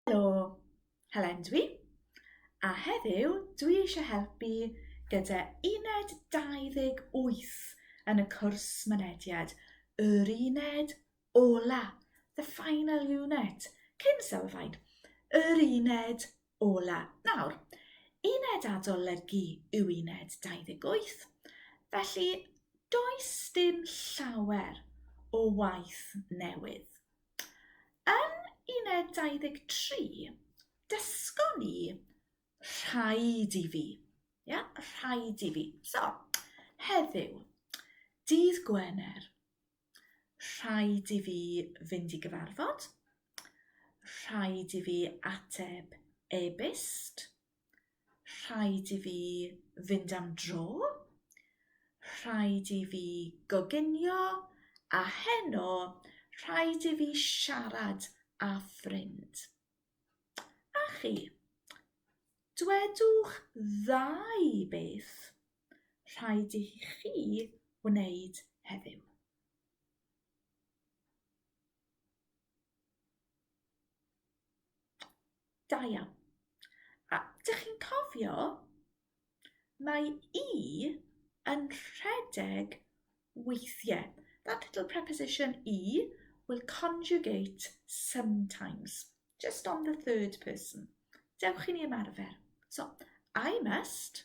Helo, Helen dwi, a heddiw dwi eisiau helpu gyda uned 28 yn y cwrs mynediad, yr uned ola, the final unit, cyn sylfaen, yr uned Ola. Nawr, uned adolygu yw uned 28, felly does dim llawer o waith newydd. Yn uned 23, dysgon ni rhaid i fi. Ia, rhaid i fi. So, heddiw, dydd Gwener, Rhaid i fi fynd i gyfarfod. Rhaid i fi ateb e-byst. Rhaid i fi fynd am dro. Rhaid i fi goginio. A heno, rhaid i fi siarad â ffrind. A chi? Dwedwch ddau beth. rhaid i chi wneud heddiw. Da iawn. A dych chi'n cofio, mae i yn rhedeg weithiau. That little preposition i will conjugate sometimes, just on the third person. Dewch i ni ymarfer. So, I must,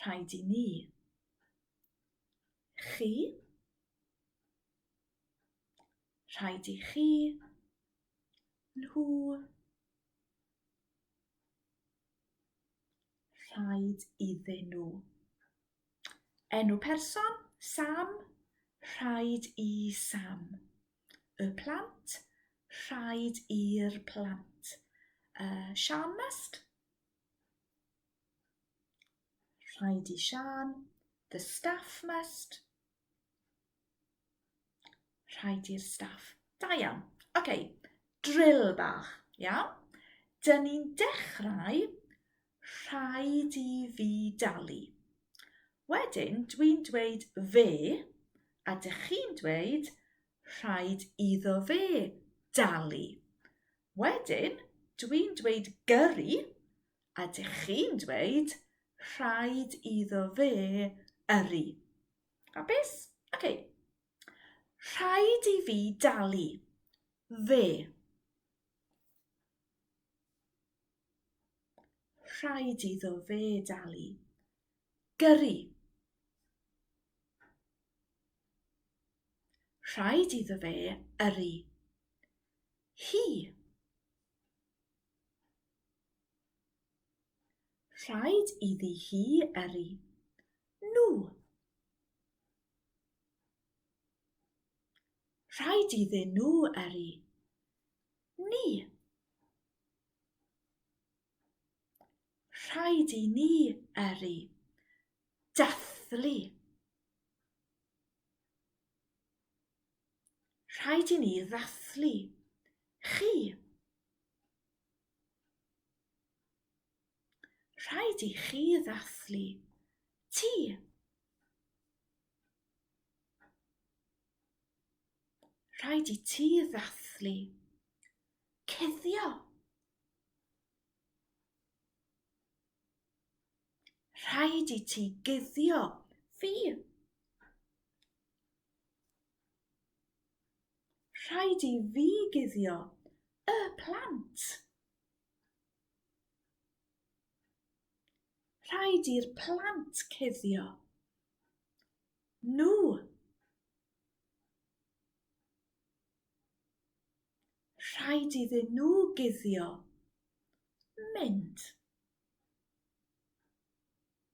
Rhaid i ni. Chi. Rhaid i chi. Nhw. Rhaid iddyn nhw. Enw person, Sam. Rhaid i Sam. Y plant, rhaid i'r plant. Uh, Sian Must? Rhaid i Sian. The staff must. Rhaid i'r staff. Da iawn. Oce, okay. drill bach. Iawn? Dyn ni'n dechrau rhaid i fi dalu. Wedyn, dwi'n dweud fe, a dych chi'n dweud rhaid iddo fe dalu. Wedyn, dwi'n dweud gyrru, a dych chi'n dweud rhaid iddo fe yrru. Hapus? Oce. Okay. Rhaid i fi dalu. Fe. rhaid iddo fe dalu. Gyrru. Rhaid iddo fe yrru. Hi. Rhaid iddi hi yrru. Nhw. Rhaid iddyn nhw yrru. Ni. Rhaid i ni yrru. Dathlu. Rhaid i ni ddathlu chi. Rhaid i chi ddathlu ti. Rhaid i ti ddathlu cuddio. Rhaid i ti guddio fi. Rhaid i fi guddio y plant. Rhaid i'r plant cuddio. Nhw. Rhaid iddyn nhw guddio. Mynd.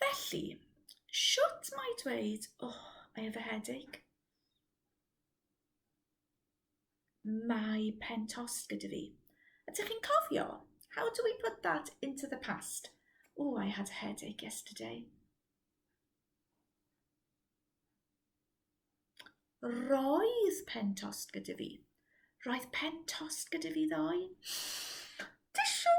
Felly, shwt mae dweud, oh, I have a headache? Mae pen tos gyda fi. A dych chi'n cofio? How do we put that into the past? Oh, I had a headache yesterday. Roedd pen tos gyda fi. Roedd pen tos gyda fi ddoe. Tissue!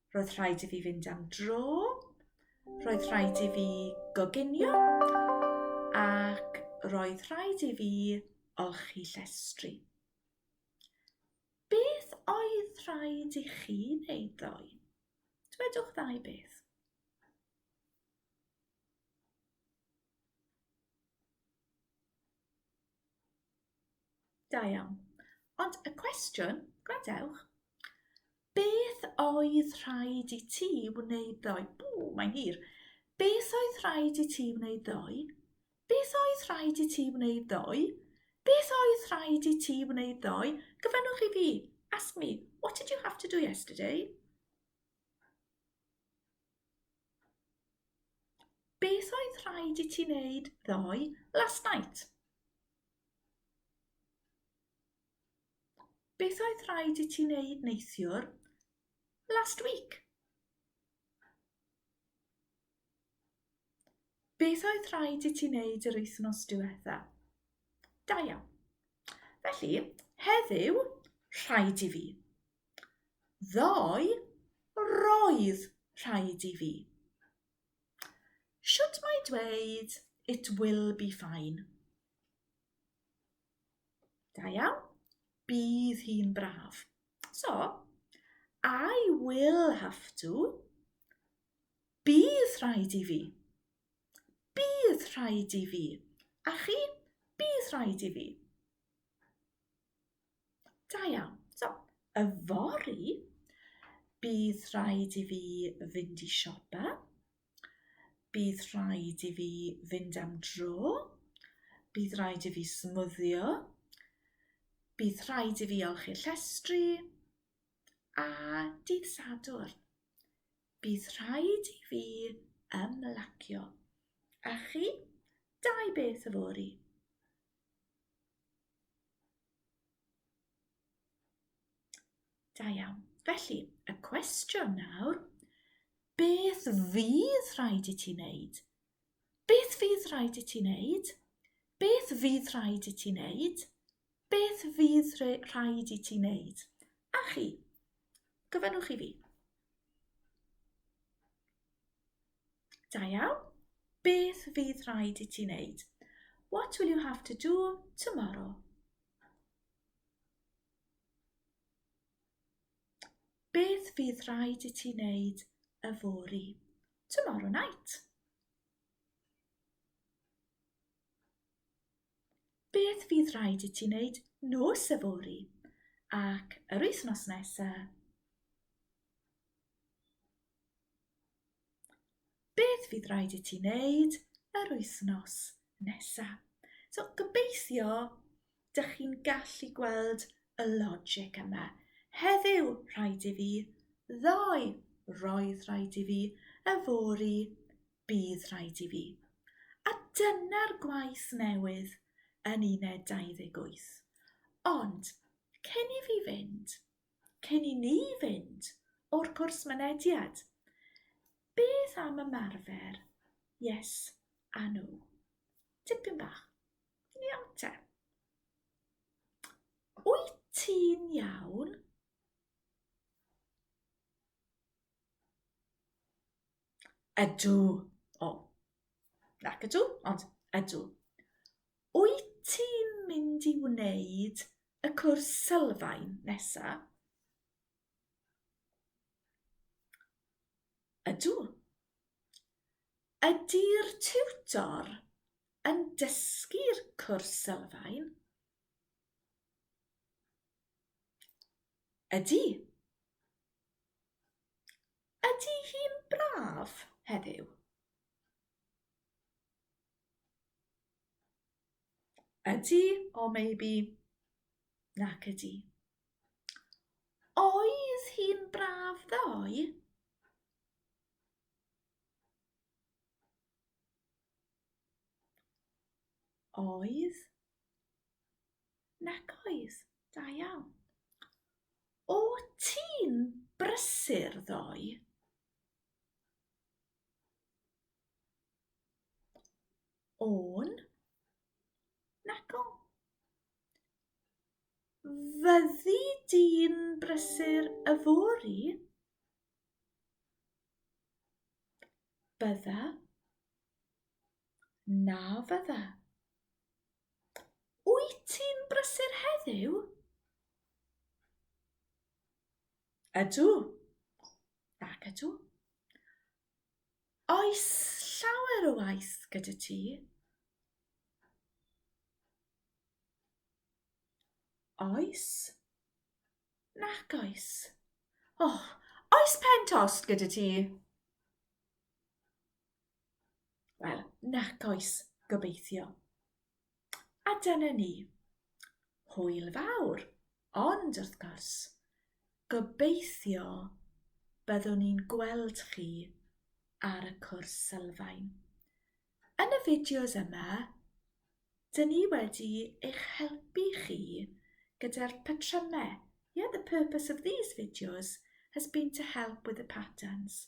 Roedd rhaid i fi fynd am dro. Roedd rhaid i fi goginio. Ac roedd rhaid i fi olchi llestri. Beth oedd rhaid i chi wneud ddoe? Dwedwch ddau beth. Da iawn. Ond y cwestiwn, gwrandewch, beth oedd rhaid i ti wneud ddoe? Bw, mae'n hir. Beth oedd rhaid i ti wneud ddoe? Beth oedd rhaid i ti wneud ddoe? Beth oedd rhaid i ti wneud ddoe? Gyfynnwch i fi. Ask me, what did you have to do yesterday? Beth oedd rhaid i ti wneud ddoe? Last night. Beth oedd rhaid i ti wneud neithiwr? Last week. Beth oedd rhaid i ti wneud yr wythnos diwetha? Da iawn. Felly, heddiw, rhaid i fi. Ddoe, roedd rhaid i fi. Shwt mae dweud it will be fine? Da iawn. Bydd hi'n braf. So, I will have to. Bydd rhaid i fi. Bydd rhaid i fi. A chi? Bydd rhaid i fi. Da iawn. So, yfory, bydd rhaid i fi fynd i siopa. Bydd rhaid i fi fynd am dro. Bydd rhaid i fi smwddio. Bydd rhaid i fi olchi llestri. A dydd Sadwrn, bydd rhaid i fi ymlacio. A chi? Dau beth yfory. Da iawn. Felly, y cwestiwn nawr, beth fydd rhaid i ti wneud? Beth fydd rhaid i ti wneud? Beth fydd rhaid i ti wneud? Beth fydd rhaid i ti wneud? A chi? Gofynnwch i fi. Da iawn. Beth fydd rhaid i ti wneud? What will you have to do tomorrow? Beth fydd rhaid i ti wneud y fori? Tomorrow night. Beth fydd rhaid i ti wneud nos y fori? Ac yr wythnos nesaf? beth fydd rhaid i ti wneud yr wythnos nesaf. So, gobeithio, dych chi'n gallu gweld y logic yma. Heddiw, rhaid i fi, ddoe, roedd rhaid i fi, y fori, bydd rhaid i fi. A dyna'r gwaith newydd yn uned 28. Ond, cyn i fi fynd, Cyn i ni fynd o'r cwrs mynediad, beth am ymarfer yes a no? Tipyn bach. Yn iawn te. Wyt ti'n iawn? Ydw. O. Nac ydw, ond ydw. Wyt ti'n mynd i wneud y cwrs sylfaen nesa? Ydw. Ydy'r tiwtor yn dysgu'r cwrs sylfaen? Ydy. Ydy hi'n braf heddiw? Ydy, or maybe nac ydy. Oedd hi'n braf ddoe? Oedd. Nac oes, da iawn. O ti'n brysur ddoe? O'n? Nac o. Fyddi di'n brysur yfory? Bydda? Na fydda. Wyt ti'n brysur heddiw? Ydw. Ac ydw. Oes llawer o waith gyda ti? Oes. Nac oes. O, oh, oes pen tost gyda ti? Wel, nac oes, gobeithio. A dyna ni. Hwyl fawr, ond wrth gwrs, gobeithio byddwn ni'n gweld chi ar y cwrs sylfaen. Yn y fideos yma, dyn ni wedi eich helpu chi gyda'r patrymau. Yeah, the purpose of these videos has been to help with the patterns.